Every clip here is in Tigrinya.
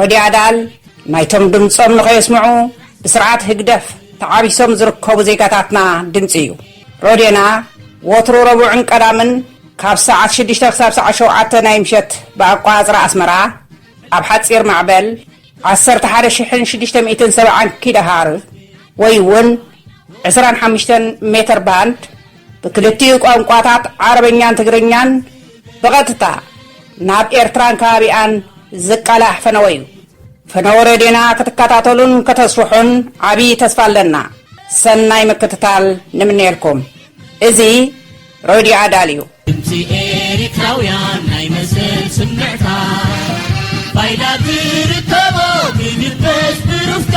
ረድዮ ኣዳል ናይቶም ድምጾም ንኸየስምዑ ብስርዓት ህግደፍ ተዓቢሶም ዝርከቡ ዜጋታትና ድምጺ እዩ። ረድዮና ወትሩ ረቡዕን ቀዳምን ካብ ሰዓት ሽዱሽተ ክሳብ ሰዓት ሸውዓተ ናይ ምሸት ብኣቆጻጽራ ኣስመራ ኣብ ሓጺር ማዕበል ዓሰርተ ሓደ ሽሕን ሽዱሽተ ሚእትን ሰብዓን ኪሎሃርዝ ወይ እውን ዕስራን ሓሙሽተን ሜተር ባንድ ብክልቲኡ ቋንቋታት ዓረበኛን ትግርኛን ብቐጥታ ናብ ኤርትራን ከባቢኣን ዝቃላሕ ፈነወ እዩ። ፈነወ ሬድዮና ክትከታተሉን ከተስፍሑን ዓብዪ ተስፋ ኣለና። ሰናይ ምክትታል ንምነየልኩም። እዚ ሬድዮ ኣዳል እዩ። ድምፂ ኤሪትራውያን ናይ መሰል ስምዕታ ባይላ ትርከቦ ብድበስ ብሩፍታ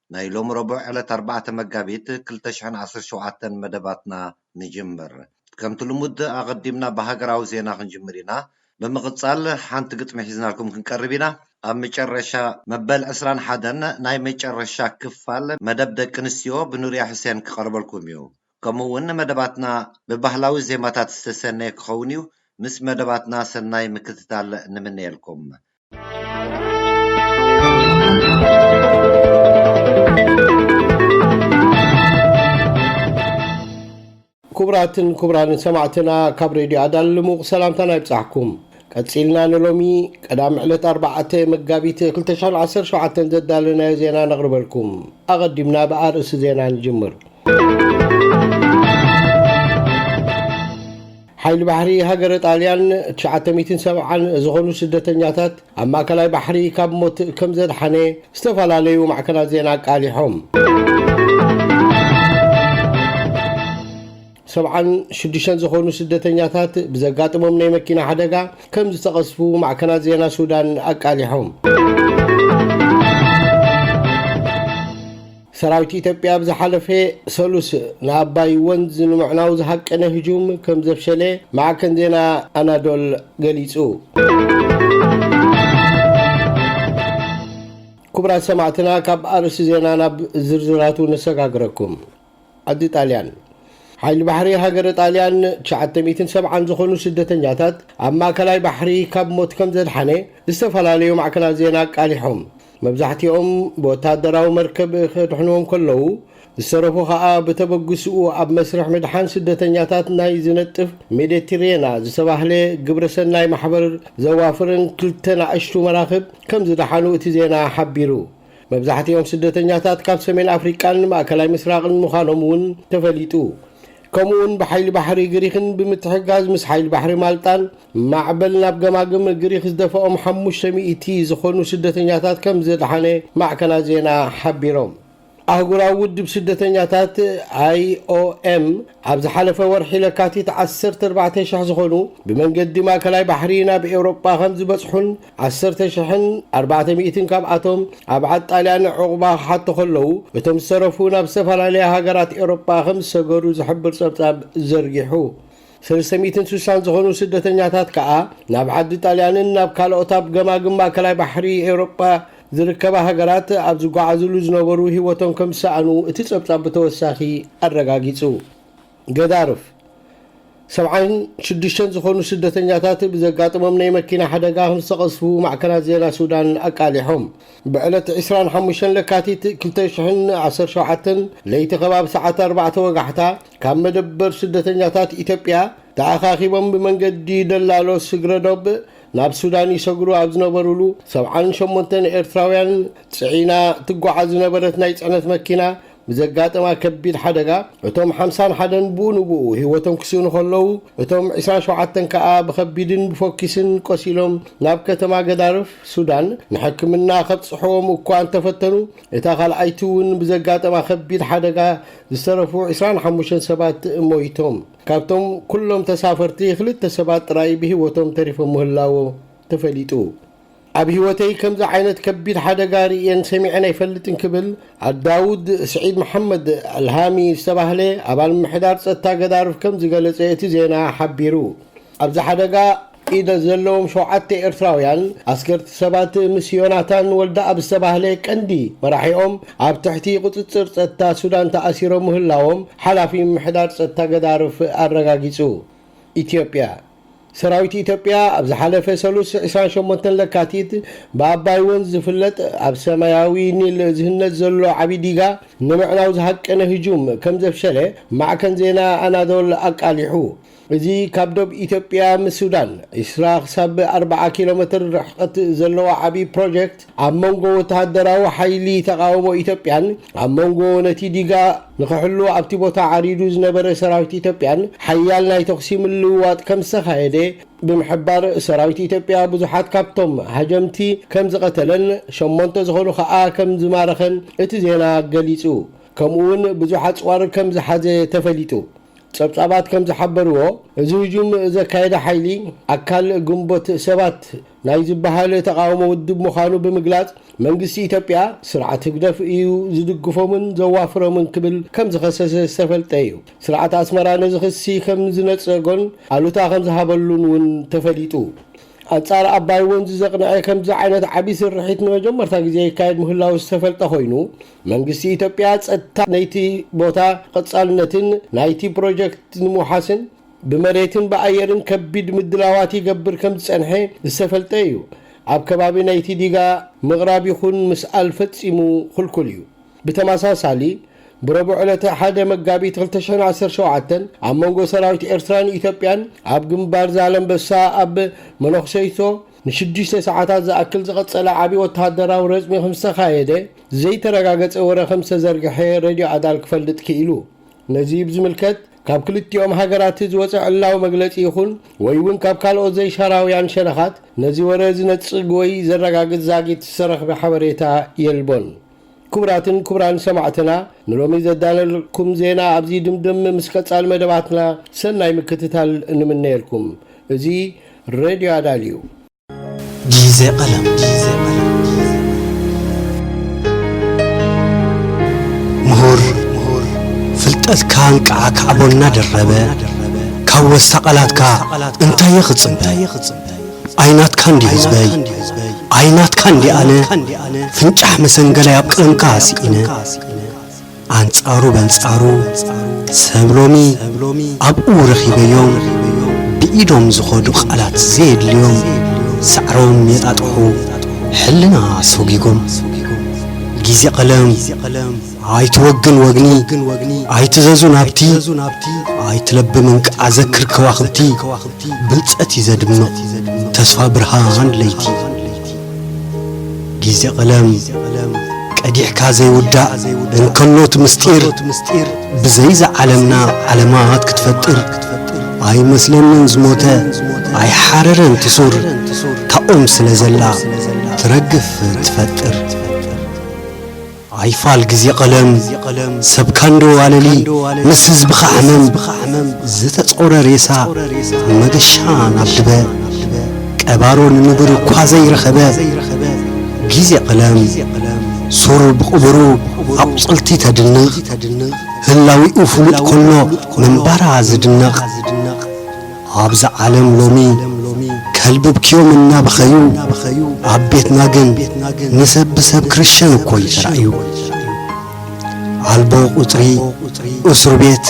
ናይ ሎሚ ረቡዕ ዕለት ኣርባዕተ መጋቢት ክልተ ሽሕን ዓሰርተ ሸውዓተን መደባትና ንጅምር። ከምቲ ልሙድ ኣቐዲምና ብሃገራዊ ዜና ክንጅምር ኢና። ብምቕጻል ሓንቲ ግጥሚ ሒዝናልኩም ክንቀርብ ኢና። ኣብ መጨረሻ መበል ዕስራን ሓደን ናይ መጨረሻ ክፋል መደብ ደቂ ኣንስትዮ ብኑርያ ሕሴን ክቐርበልኩም እዩ። ከምኡ'ውን መደባትና ብባህላዊ ዜማታት ዝተሰነየ ክኸውን እዩ። ምስ መደባትና ሰናይ ምክትታል ንምነየልኩም። ክቡራትን ክቡራንን ሰማዕትና ካብ ሬድዮ ኣዳል ልሙቕ ሰላምታና ይብጻሕኩም ቀጺልና ንሎሚ ቀዳሚ ዕለት 4 መጋቢት 217 ዘዳለናዮ ዜና ነቕርበልኩም ኣቐዲምና ብኣርእሲ ዜና ንጅምር ሓይሊ ባሕሪ ሃገረ ጣልያን ትሽዓተ ሚእትን ሰብዓን ዝኾኑ ስደተኛታት ኣብ ማእከላይ ባሕሪ ካብ ሞት ከም ዘድሓነ ዝተፈላለዩ ማዕከናት ዜና ኣቃሊሖም። ሰብዓን ሽዱሽተን ዝኾኑ ስደተኛታት ብዘጋጥሞም ናይ መኪና ሓደጋ ከም ዝተቐስፉ ማዕከናት ዜና ሱዳን ኣቃሊሖም። ሰራዊት ኢትዮጵያ ኣብ ዝሓለፈ ሰሉስ ንኣባይ ወንዝ ንምዕናው ዝሃቀነ ህጁም ከም ዘፍሸለ ማዕከን ዜና ኣናዶል ገሊጹ። ክቡራት ሰማዕትና ካብ ኣርእስቲ ዜና ናብ ዝርዝራቱ ነሰጋግረኩም። ዓዲ ጣልያን ሓይሊ ባሕሪ ሃገረ ጣልያን 970 ዝኾኑ ስደተኛታት ኣብ ማእከላይ ባሕሪ ካብ ሞት ከም ዘድሓነ ዝተፈላለዩ ማዕከናት ዜና ኣቃሊሖም። መብዛሕቲኦም ብወታደራዊ መርከብ ከድሕንዎም ከለዉ፣ ዝተረፉ ከኣ ብተበግስኡ ኣብ መስርሕ ምድሓን ስደተኛታት ናይ ዝነጥፍ ሜደትሬና ዝተባህለ ግብረሰናይ ማሕበር ዘዋፍረን ክልተ ናእሽቱ መራኽብ ከም ዝደሓኑ እቲ ዜና ሓቢሩ። መብዛሕቲኦም ስደተኛታት ካብ ሰሜን ኣፍሪቃን ማእከላይ ምስራቕን ምዃኖም እውን ተፈሊጡ። ከምኡ'ውን ብሓይሊ ባሕሪ ግሪኽን ብምትሕግጋዝ ምስ ሓይሊ ባሕሪ ማልጣን፣ ማዕበል ናብ ገማግም ግሪኽ ዝደፍኦም ሓሙሽተ ሚእቲ ዝኾኑ ስደተኛታት ከምዘድሓነ ማዕከናት ዜና ሓቢሮም። ኣህጉራዊ ውድብ ስደተኛታት፣ IOM፣ ኣብ ዝሓለፈ ወርሒ ለካቲት ዓሰርተ ኣርባዕተ ሽሕ ዝኾኑ ብመንገዲ ማእከላይ ባሕሪ ናብ ኤውሮጳ ከምዝበጽሑን ዓሰርተ ሽሕን ኣርባዕተ ሚእትን ካብኣቶም ኣብ ዓድ ጣልያን ዑቕባ ክሓቱ ከለዉ እቶም ዝተረፉ ናብ ዝተፈላለያ ሃገራት ኤውሮጳ ከምዝሰገሩ ዝሕብር ጸብጻብ ዘርጊሑ። ሰለስተ ሚእትን ስሳን ዝኾኑ ስደተኛታት ከኣ ናብ ዓዲ ጣልያንን ናብ ካልኦት ኣብ ገማግም ማእከላይ ባሕሪ ኤውሮጳ ዝርከባ ሃገራት ኣብ ዝጓዓዝሉ ዝነበሩ ህይወቶም ከም ዝሰኣኑ እቲ ጸብጻብ ብተወሳኺ ኣረጋጊጹ። ገዳርፍ ሰብዓን ሽዱሽተን ዝኾኑ ስደተኛታት ብዘጋጠሞም ናይ መኪና ሓደጋ ከም ዝተቐዝፉ ማዕከናት ዜና ሱዳን ኣቃሊሖም። ብዕለት ዕስራን ሓሙሽተን ለካቲት ክልተ ሽሕን ዓሰርተ ሸውዓተን ለይቲ ከባቢ ሰዓት ኣርባዕተ ወጋሕታ፣ ካብ መደበር ስደተኛታት ኢትዮጵያ ተኣኻኺቦም ብመንገዲ ደላሎ ስግረዶብ ናብ ሱዳን ይሰግሩ ኣብ ዝነበሩሉ ሰብዓን ሸሞንተን ኤርትራውያን ጽዒና ትጓዓዝ ዝነበረት ናይ ጽዕነት መኪና ብዘጋጠማ ከቢድ ሓደጋ እቶም ሓምሳን ሓደን ብኡ ንብኡ ህይወቶም ክስእኑ ከለዉ እቶም ዕስራን ሸውዓተን ከኣ ብኸቢድን ብፎኪስን ቆሲሎም ናብ ከተማ ገዳርፍ ሱዳን ንሕክምና ከብጽሕዎም እኳ እንተፈተኑ እታ ካልኣይቲ እውን ብዘጋጠማ ከቢድ ሓደጋ ዝተረፉ ዕስራን ሓሙሽተን ሰባት ሞይቶም፣ ካብቶም ኩሎም ተሳፈርቲ ክልተ ሰባት ጥራይ ብህይወቶም ተሪፎም ምህላዎ ተፈሊጡ። ኣብ ህይወተይ ከምዚ ዓይነት ከቢድ ሓደጋ ርእየን ሰሚዐን ኣይፈልጥን ክብል ኣልዳውድ ስዒድ መሓመድ ኣልሃሚ ዝተባህለ ኣባል ምምሕዳር ጸጥታ ገዳርፍ ከም ዝገለጸ እቲ ዜና ሓቢሩ። ኣብዚ ሓደጋ ኢደ ዘለዎም ሸውዓተ ኤርትራውያን ኣስገርቲ ሰባት ምስ ዮናታን ወልደኣብ ዝተባህለ ቀንዲ መራሒኦም ኣብ ትሕቲ ቁጽጽር ጸጥታ ሱዳን ተኣሲሮም ምህላዎም ሓላፊ ምምሕዳር ጸጥታ ገዳርፍ ኣረጋጊጹ። ኢትዮጵያ። ሰራዊት ኢትዮጵያ ኣብ ዝሓለፈ ሰሉስ ዕስራን ሸሞንተን ለካቲት ብኣባይ ወንዝ ዝፍለጥ ኣብ ሰማያዊ ኒል ዝህነጽ ዘሎ ዓቢ ዲጋ ንምዕናው ዝሃቀነ ህጁም ከምዘፍሸለ ማዕከን ዜና ኣናዶል ኣቃሊሑ። እዚ ካብ ዶብ ኢትዮጵያ ምስ ሱዳን ዕስራ ክሳብ ኣርብዓ ኪሎ መትር ርሕቕት ዘለዋ ዓብዪ ፕሮጀክት ኣብ መንጎ ወተሃደራዊ ሓይሊ ተቓውሞ ኢትዮጵያን ኣብ መንጎ ነቲ ዲጋ ንክሕሉ ኣብቲ ቦታ ዓሪዱ ዝነበረ ሰራዊት ኢትዮጵያን ሓያል ናይ ተኹሲ ምልውዋጥ ከም ዝተኻየደ ብምሕባር ሰራዊት ኢትዮጵያ ብዙሓት ካብቶም ሃጀምቲ ከም ዝቐተለን ሸሞንተ ዝኾኑ ከኣ ከም ዝማረኸን እቲ ዜና ገሊጹ። ከምኡ'ውን ብዙሕ ኣጽዋር ከም ዝሓዘ ተፈሊጡ። ጸብጻባት ከም ዝሓበርዎ፣ እዚ ህጁም ዘካየደ ሓይሊ፣ ኣካል ግንቦት ሰባት ናይ ዝበሃል ተቓውሞ ውድብ ምዃኑ ብምግላጽ፣ መንግስቲ ኢትዮጵያ፣ ስርዓት ህግደፍ እዩ ዝድግፎምን ዘዋፍሮምን ክብል ከም ዝኸሰሰ ዝተፈልጠ እዩ። ስርዓት ኣስመራ ነዚ ክሲ ከም ዝነጸጎን ኣሉታ ከም ዝሃበሉን እውን ተፈሊጡ። ኣንጻር ኣባይ ወንዝ ዘቕንዐ ከምዚ ዓይነት ዓቢ ስርሒት ንመጀመርታ ግዜ ይካየድ ምህላዉ ዝተፈልጠ ኮይኑ፣ መንግስቲ ኢትዮጵያ ፀጥታ ናይቲ ቦታ ቐፃልነትን ናይቲ ፕሮጀክት ንምውሓስን ብመሬትን ብኣየርን ከቢድ ምድላዋት ይገብር ከምዝፀንሐ ዝተፈልጠ እዩ። ኣብ ከባቢ ናይቲ ዲጋ ምቕራብ ይኹን ምስኣል ፈፂሙ ኽልኩል እዩ። ብተመሳሳሊ ብረቡዕ ዕለተ ሓደ መጋቢት ክልተ ሽሕን ዓሰርተ ሸውዓተን ኣብ መንጎ ሰራዊት ኤርትራን ኢትዮጵያን ኣብ ግንባር ዛለምበሳ ኣብ መነኹሰይቶ ንሽዱሽተ ሰዓታት ዝኣክል ዝቐጸለ ዓቢ ወተሃደራዊ ረጽሚ ከም ዝተኻየደ፣ ዘይተረጋገጸ ወረ ከም ዝተዘርግሐ ሬድዮ ኣዳል ክፈልጥ ክኢሉ። ነዚ ብዝምልከት ካብ ክልቲኦም ሃገራትት ዝወጸ ዕላዊ መግለጺ ይኹን ወይ'ውን ካብ ካልኦት ዘይሻራውያን ሸነኻት ነዚ ወረ ዝነጽግ ወይ ዘረጋግጽ ዛጊት ዝተረኽበ ሓበሬታ የልቦን። ክቡራትን ክቡራን ሰማዕትና ንሎሚ ዘዳለልኩም ዜና ኣብዚ ይድምድም ምስ ቀጻሊ መደባትና ሰናይ ምክትታል ንምነየልኩም እዚ ሬድዮ ኣዳል እዩ። ጊዜ ቐለም ምሁር ፍልጠትካ እንቅዓ ካዕቦ እናደረበ ካብ ወስታ ቓላትካ እንታየ ክጽበ ኣይናትካ እንድዩ ህዝበይ ኣይናትካ እንድየ ኣነ ፍንጫሕ መሰንገላይ ኣብ ቀርንካ ስኢነ ኣንጻሩ በንጻሩ ሰብ ሎሚ ኣብኡ ረኺበዮም ብኢዶም ዝኸዱ ቃላት ዘየድልዮም ሳዕሮም የጣጥሑ ሕልና ሰጒጎም ግዜ ቀለም ኣይትወግን ወግኒ ኣይትዘዙ ናብቲ ኣይትለብም እንቃዘክር ከዋኽብቲ ብልጸት እዩ ዘድምቕ ተስፋ ብርሃን ለይቲ ጊዜ ቐለም ቀዲሕካ ዘይውዳእ እንከሎት ምስጢር ብዘይዛ ዓለምና ዓለማት ክትፈጥር ኣይመስለንን ዝሞተ ኣይሓረረን ትሱር ታኦም ስለ ዘላ ትረግፍ ትፈጥር ኣይፋል ግዜ ቀለም ሰብ ካንዶ ኣለሊ ምስ ህዝብኻ ሕመም ዝተጾረ ሬሳ መገሻ ናብ ድበ ቀባሮ ንንቡር እኳ ዘይረኸበ ግዜ ቀለም ሱር ብቕቡሩ ኣቝጽልቲ ተድንቕ ህላዊኡ ፍሉጥ ኮሎ ምንባራ ዝድነቕ ኣብዛ ዓለም ሎሚ ከልብብክዮም እናበኸዩ ኣብ ቤትና ግን ንሰብ ብሰብ ክርሸን እኮ እዩ ተራእዩ ኣልቦ ቁጽሪ እሱር ቤት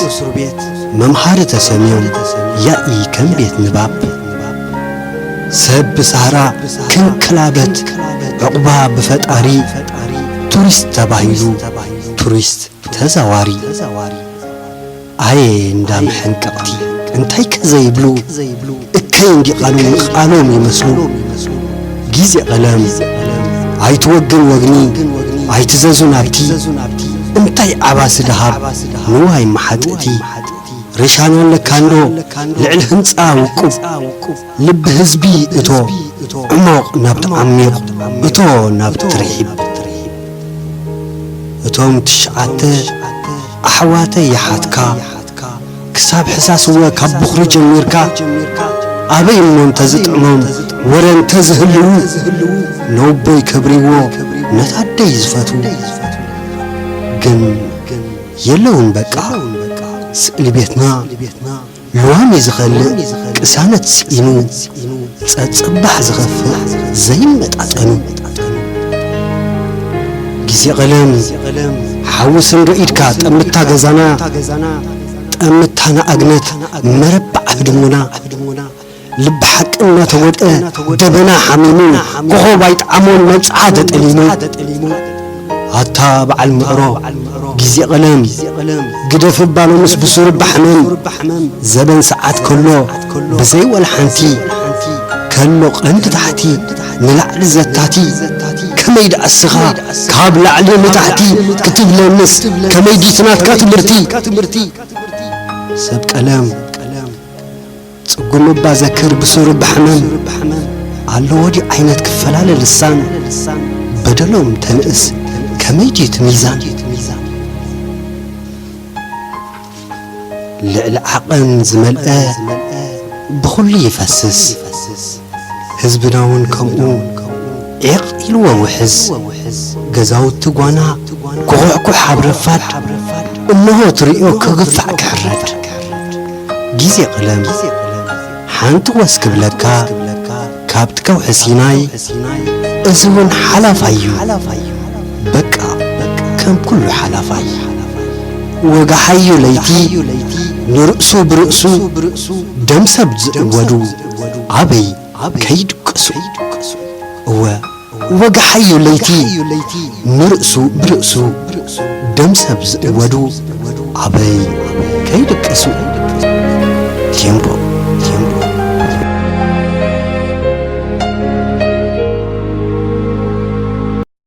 መምሃሪ ተሰምዮም ያኢ ከም ቤት ንባብ ሰብ ብሳህራ ክንክላበት ዕቑባ ብፈጣሪ ቱሪስት ተባሂሉ ቱሪስት ተዛዋሪ ኣየ እንዳ መሐንቀቕቲ እንታይ ከ ዘይብሉ እከይ እንዲቓሉ ንቓሎም ይመስሉ ጊዜ ቐለም ኣይትወግን ወግኒ ኣይትዘዙ ናብቲ እንታይ ዓባሲ ደሃብ ንዋይ መሓጥእቲ ሪሻና ኣለካ እንዶ ልዕሊ ህንጻ ውቁብ ልቢ ህዝቢ እቶ ዕሞቕ ናብቲ ዓሚቕ እቶ ናብቲ ትርሒብ እቶም ትሽዓተ ኣሕዋተይ የሓትካ ክሳብ ሕሳስወ ካብ ቡኽሪ ጀሚርካ ኣበይ እሞ እንተዝጥዕሞም ወረ እንተዝህልዉ ነውቦይ ከብሪዎ ነታ ኣደይ ዝፈትዉ ግን የለውን በቃ ስእሊ ቤትና ሎሚ ዝኸልእ ቅሳነት ስኢኑ ጸጽባሕ ዝኸፍእ ዘይመጣጠኑ ግዜ ቐለም ሓዊ ስንዶ ኢድካ ጠምታ ገዛና ጠምታ ንኣግነት መረባዕ ኣህድሙና ልቢ ሓቂ እናተወጠ ደበና ሓሚሙ ኮኾብ ኣይጥዓሞን መብጽዓ ተጠሊሙ ኣታ በዓል ምዕሮ ግዜ ቐለም ግደፍ እባ ሎምስ ብሱሩ ባሕመም ዘበን ሰዓት ከሎ ብዘይ ወላ ሓንቲ ከሎ ቐንዲ ታሕቲ ንላዕሊ ዘታቲ ከመይ ደኣ እስኻ ካብ ላዕሊ ንታሕቲ ክትብለንስ ከመይ ዲቲ ናትካ ትምህርቲ ሰብ ቀለም ጽጉም እባ ዘክር ብሱሩ ብሕመም ኣሎ ወዲዩ ዓይነት ክፈላለ ልሳን በደሎም ተንእስ ከመይ ድዩ እቲ ሚዛን ልዕሊ ዓቐን ዝመልአ ብኹሉ ይፈስስ ህዝብና ውን ከምኡ ዒቕ ኢልዎ ውሕዝ ገዛውቲ ጓና ኩኹሕኩሕ ኣብ ረፋድ እንሆ ትርእዮ ክግፋዕ ክሕረድ ግዜ ቀለም ሓንቲ ወስ ክብለካ ካብቲ ከውሒ ሲናይ እዚ ውን ሓላፋይ ዩ በቃ ከም ኩሉ ሓላፋይ ወጋሓዮ ለይቲ ንርእሱ ብርእሱ ደም ሰብ ዝእወዱ ኣበይ ከይድቅሱ እወ ወግሓዮ ለይቲ ንርእሱ ብርእሱ ደም ሰብ ዝእወዱ ኣበይ ከይድቅሱ ቴምቦ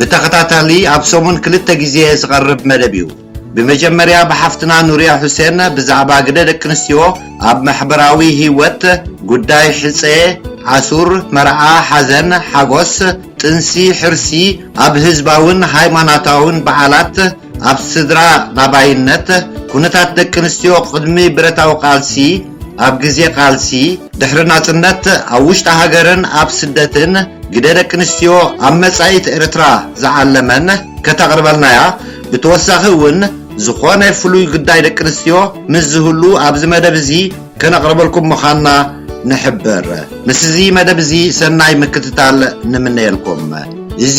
ብተኸታታሊ ኣብ ሰሙን ክልተ ግዜ ዝቐርብ መደብ እዩ። ብመጀመርያ ብሓፍትና ኑርያ ሑሴን ብዛዕባ ግደ ደቂ ኣንስትዮ ኣብ ማሕበራዊ ህይወት፣ ጉዳይ ሕጸ፣ ኣሱር፣ መርዓ፣ ሓዘን፣ ሓጎስ፣ ጥንሲ፣ ሕርሲ፣ ኣብ ህዝባውን ሃይማኖታውን በዓላት፣ ኣብ ስድራ ላባይነት፣ ኩነታት ደቂ ኣንስትዮ ቅድሚ ብረታዊ ቃልሲ፣ ኣብ ግዜ ቃልሲ፣ ድሕሪ ናጽነት፣ ኣብ ውሽጢ ሃገርን ኣብ ስደትን፣ ግደ ደቂ ኣንስትዮ ኣብ መጻኢት ኤርትራ ዝዓለመን ከተቕርበልናያ፣ ብተወሳኺ እውን ዝኾነ ፍሉይ ግዳይ ደቂ ኣንስትዮ ምስ ዝህሉ ኣብዚ መደብ እዚ ከነቕርበልኩም ምኻና ንሕብር። ምስዚ መደብ እዚ ሰናይ ምክትታል ንምነየልኩም። እዚ።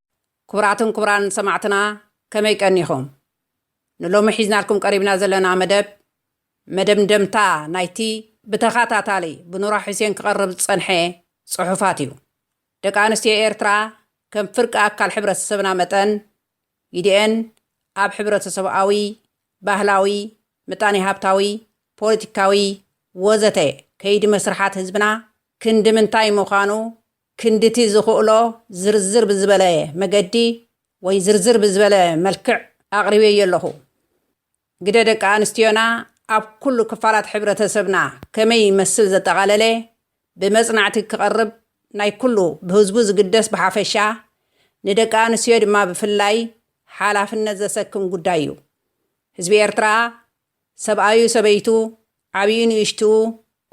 ኩቡራትን ኩቡራን ሰማዕትና ከመይ ቀኒኹም? ንሎሚ ሒዝናልኩም ቀሪብና ዘለና መደብ መደምደምታ ናይቲ ብተኻታታሊ ብኑራ ሑሴን ክቐርብ ዝጸንሐ ጽሑፋት እዩ። ደቂ ኣንስትዮ ኤርትራ ከም ፍርቂ ኣካል ሕብረተሰብና መጠን ግዲኤን ኣብ ሕብረተሰብኣዊ፣ ባህላዊ፣ ምጣኔ ሃብታዊ፣ ፖለቲካዊ ወዘተ ከይዲ መስርሓት ህዝብና ክንዲ ምንታይ ምዃኑ ክንድቲ ዝኽእሎ ዝርዝር ብዝበለ መገዲ ወይ ዝርዝር ብዝበለ መልክዕ ኣቕሪበዮ ኣለኹ። ግደ ደቂ ኣንስትዮና ኣብ ኩሉ ክፋላት ሕብረተሰብና ከመይ ይመስል ዘጠቓለለ ብመጽናዕቲ ክቐርብ ናይ ኩሉ ብህዝቡ ዝግደስ ብሓፈሻ ንደቂ ኣንስትዮ ድማ ብፍላይ ሓላፍነት ዘሰክም ጉዳይ እዩ። ህዝቢ ኤርትራ ሰብኣዩ ሰበይቱ፣ ዓብዩ ንእሽትኡ፣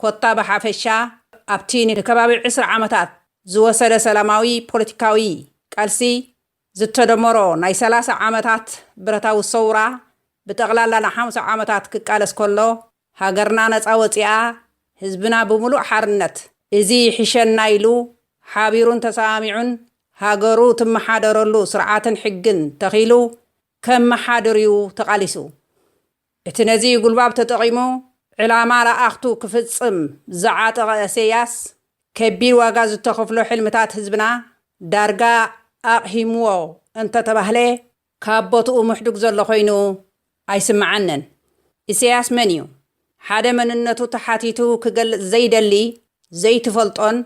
ኮታ ብሓፈሻ ኣብቲ ንከባቢ ዕስራ ዓመታት ዝወሰደ ሰላማዊ ፖለቲካዊ ቃልሲ ዝተደመሮ ናይ ሰላሳ ዓመታት ብረታዊ ሰውራ ብጠቕላላ ንሓምሳ ዓመታት ክቃለስ ከሎ ሃገርና ነጻ ወጺኣ ህዝብና ብምሉእ ሓርነት እዚ ይሕሸና ኢሉ ሓቢሩን ተሰማሚዑን ሃገሩ ትመሓደረሉ ስርዓትን ሕግን ተኺሉ ከመሓድር'ዩ ተቓሊሱ። እቲ ነዚ ጉልባብ ተጠቒሙ ዕላማ ለኣኽቱ ክፍጽም ዝዓጠቐ እሰያስ፣ ከቢድ ዋጋ ዝተኸፍሎ ሕልምታት ህዝብና ዳርጋ ኣቕሂምዎ እንተተባህለ ካብ ቦትኡ ምሕዱግ ዘሎ ኮይኑ ኣይስመዓንን። እሰያስ መን'ዩ? ሓደ መንነቱ ተሓቲቱ ክገልጽ ዘይደሊ ዘይትፈልጦን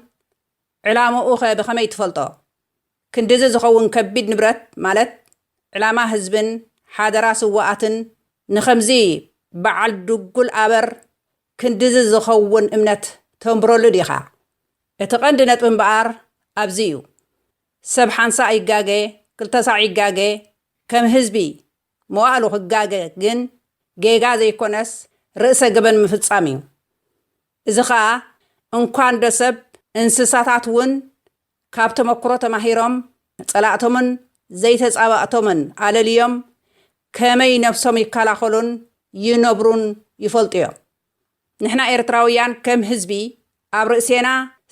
ዕላምኡ'ኸ ብኸመይ ትፈልጦ? ክንድዚ ዝኸውን ከቢድ ንብረት ማለት ዕላማ ህዝብን ሓደራ ስዋኣትን ንኸምዚ ባዓል ድጉል ኣበር ክንድዚ ዝኸውን እምነት ተንብረሉ ዲኻ? እቲ ቀንዲ ነጥቢ እምበኣር ኣብዚ እዩ። ሰብ ሓንሳእ ይጋገ ክልተ ሳዕ ይጋገ ከም ህዝቢ መዋእሉ ክጋገ ግን ጌጋ ዘይኮነስ ርእሰ ገበን ምፍጻም እዩ። እዚ ከኣ እንኳንዶ ሰብ እንስሳታት እውን ካብ ተመኩሮ ተማሂሮም ንጸላእቶምን ዘይተጻባእቶምን ኣለልዮም ከመይ ነብሶም ይከላኸሉን ይነብሩን ይፈልጡ'ዮም። ንሕና ኤርትራውያን ከም ህዝቢ ኣብ ርእሴና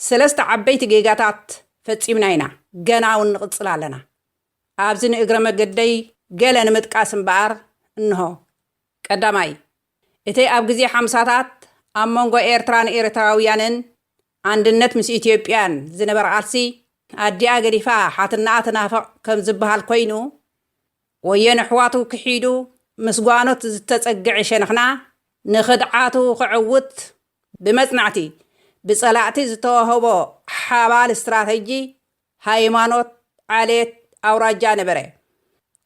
ሰለስተ ዓበይቲ ጌጋታት ፈጺምና ኢና ገና'ውን ንቕጽል ኣለና። ኣብዚ ንእግረ መገደይ ገለ ንምጥቃስ እምበኣር እንሆ። ቀዳማይ፣ እቲ ኣብ ግዜ ሓምሳታት ኣብ መንጎ ኤርትራን ኤርትራውያንን ኣንድነት ምስ ኢትዮጵያን ዝነበራ ቃልሲ ኣዲኣ ገዲፋ ሓትነኣ ትናፍቕ ከም ዝበሃል ኮይኑ፣ ወዮ ነሕዋቱ ክሒዱ ምስ ጓኖት ዝተጸግዐ ሸንኽና ንኽድዓቱ ክዕውት ብመጽናዕቲ ብጸላእቲ ዝተዋህቦ ሓባል ስትራተጂ ሃይማኖት፣ ዓሌት፣ ኣውራጃ ነበረ።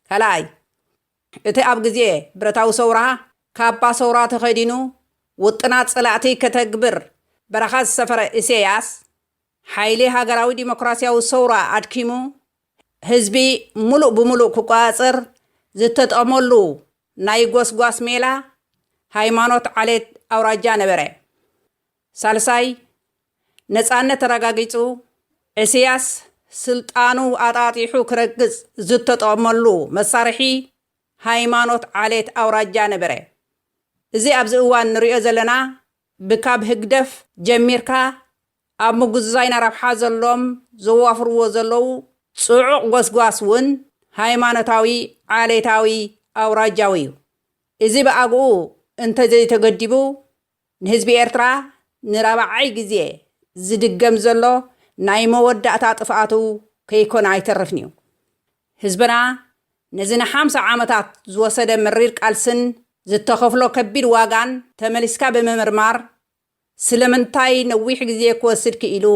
ካልኣይ። እቲ ኣብ ግዜ ብረታዊ ሰውራ ካባ ሰውራ ተኸዲኑ ውጥናት ጸላእቲ ከተግብር በረኻ ዝሰፈረ ኢሰያስ፣ ሓይሊ ሃገራዊ ዲሞክራስያዊ ሰውራ ኣድኪሙ ህዝቢ ምሉእ ብምሉእ ክቆጻጸር ዝተጠቕመሉ ናይ ጎስጓስ ሜላ፣ ሃይማኖት፣ ዓሌት፣ ኣውራጃ ነበረ። ሳልሳይ፣ ነጻነት ተረጋጊጹ ዕስያስ ስልጣኑ ኣጣጢሑ ክረግጽ ዝተጠቕመሉ መሳርሒ ሃይማኖት ዓሌት ኣውራጃ ነበረ። እዚ ኣብዚ እዋን ንርእዮ ዘለና ብካብ ህግደፍ ጀሚርካ ኣብ ምጉዝዛይና ረብሓ ዘሎዎም ዘዋፍርዎ ዘለዉ ጽዑቕ ጎስጓስ ውን ሃይማኖታዊ ዓሌታዊ ኣውራጃዊ እዩ። እዚ ብኣግኡ እንተዘይተገዲቡ ንህዝቢ ኤርትራ ንራብዓይ ግዜ ዝድገም ዘሎ ናይ መወዳእታ ጥፍኣቱ ከይኮነ ኣይተርፍን'ዩ። ህዝብና ነዚ ንሓምሳ ዓመታት ዝወሰደ መሪር ቃልስን ዝተኸፍሎ ከቢድ ዋጋን ተመሊስካ ብምምርማር፣ ስለምንታይ ነዊሕ ግዜ ክወስድ ክኢሉ?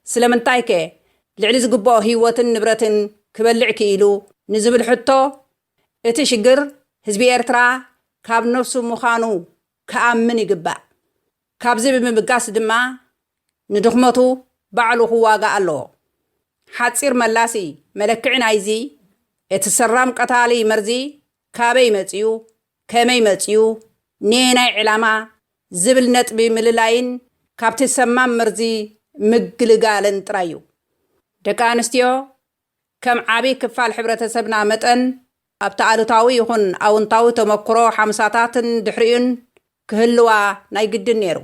ስለምንታይከ ልዕሊ ዝግበኦ ህይወትን ንብረትን ክበልዕ ክኢሉ? ንዝብል ሕቶ፣ እቲ ሽግር ህዝቢ ኤርትራ ካብ ነብሱ ምዃኑ ክኣምን ይግባእ። ካብዚ ብምብጋስ ድማ ንድኽመቱ ባዕሉ ክዋጋእ ኣለዎ። ሓጺር መላሲ መለክዒ ናይዚ እቲ ሰራም ቀታሊ መርዚ ካበይ መጺኡ፣ ከመይ መጺኡ፣ ነየናይ ዕላማ ዝብል ነጥቢ ምልላይን ካብቲ ሰማም መርዚ ምግልጋልን ጥራይ እዩ። ደቂ ኣንስትዮ ከም ዓቢ ክፋል ሕብረተሰብና መጠን፣ ኣብቲ ኣሉታዊ ይኹን ኣውንታዊ ተመኩሮ ሓምሳታትን ድሕሪኡን ክህልዋ ናይ ግድን ነይሩ።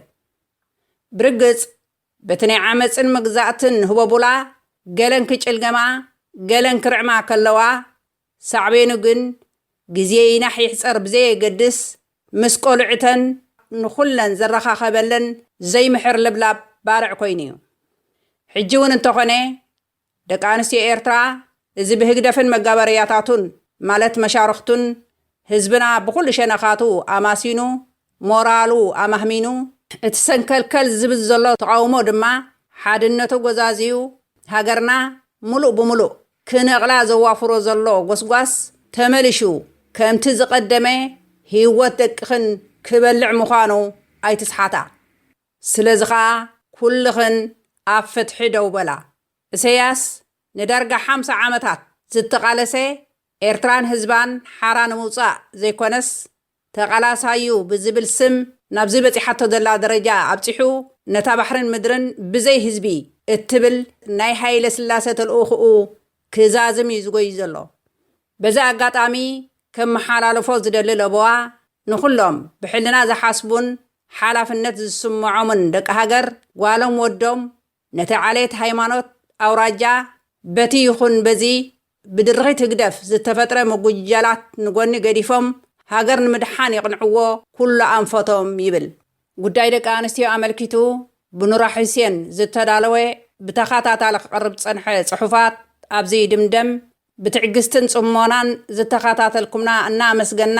ብርግጽ፣ በቲ ናይ ዓመጽን መግዛእትን ህቦቡላ ገለን ክጭልገማ ገለን ክርዕማ ከለዋ፣ ሳዕቤኑ ግን ግዜ ይናሕ ይሕጸር ብዘየገድስ ምስ ቆልዑተን ንኹለን ዘረኻኸበለን ዘይምሕር ልብላብ ባርዕ ኮይኑ'ዩ። ሕጂ'ውን እንተኾነ ደቂ ኣንስትዮ ኤርትራ እዚ ብህግደፍን መጋበርያታቱን ማለት መሻርኽቱን ህዝብና ብኹሉ ሸነኻቱ ኣማሲኑ ሞራሉ ኣማህሚኑ፣ እቲ ሰንከልከል ዝብል ዘሎ ተቓውሞ ድማ ሓድነቱ ጎዛዝዩ ሃገርና ሙሉእ ብሙሉእ ክነቕላ ዘዋፍሮ ዘሎ ጎስጓስ ተመሊሹ ከምቲ ዝቐደመ ሂወት ደቅኽን ክበልዕ ምዃኑ ኣይትስሓታ። ስለዚ ከኣ ኩልኽን ኣብ ፍትሒ ደው በላ። እሰያስ ንዳርጋ ሓምሳ ዓመታት ዝተቃለሰ ኤርትራን ህዝባን ሓራ ንምውጻእ ዘይኮነስ ተቃላሳዩ ብዝብል ስም ናብዚ በጺሓቶ ዘላ ደረጃ ኣብጺሑ ነታ ባሕርን ምድርን ብዘይ ህዝቢ እትብል ናይ ሃይለስላሰ ተልእኹኡ ክዛዝም እዩ ዝጎዪ ዘሎ። በዚ ኣጋጣሚ ከመሓላልፎ ዝደሊ ለበዋ ንኹሎም ብሕልና ዝሓስቡን ሓላፍነት ዝስምዖምን ደቂ ሃገር ጓሎም ወዶም ነቲ ዓሌት ሃይማኖት ኣውራጃ በቲ ይኹን በዚ ብድርኺት ህግደፍ ዝተፈጥረ ምጉጅጃላት ንጎኒ ገዲፎም ሃገር ንምድሓን የቕንዕዎ ኩሉ ኣንፈቶም ይብል ጉዳይ ደቂ ኣንስትዮ ኣመልኪቱ ብኑራ ሑሴን ዝተዳለወ ብተኻታታሊ ክቐርብ ዝጸንሐ ጽሑፋት ኣብዚ ይድምደም ብትዕግስትን ጽሞናን ዝተኻታተልኩምና እናኣመስገና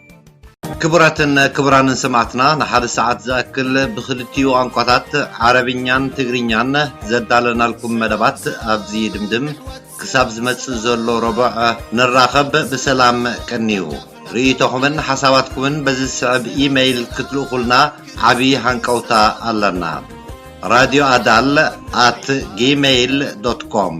ክቡራትን ክቡራንን ሰማዕትና ንሓደ ሰዓት ዝኣክል ብኽልቲኡ ቋንቋታት ዓረብኛን ትግርኛን ዘዳለናልኩም መደባት ኣብዚ ይድምድም። ክሳብ ዝመጽእ ዘሎ ረቡዕ ንራኸብ። ብሰላም ቀንዩ። ርእይቶኹምን ሓሳባትኩምን በዚ ዝስዕብ ኢመይል ክትልእኹልና ዓብዪ ሃንቀውታ ኣለና። ራድዮ ኣዳል ኣት ጂመይል ዶት ኮም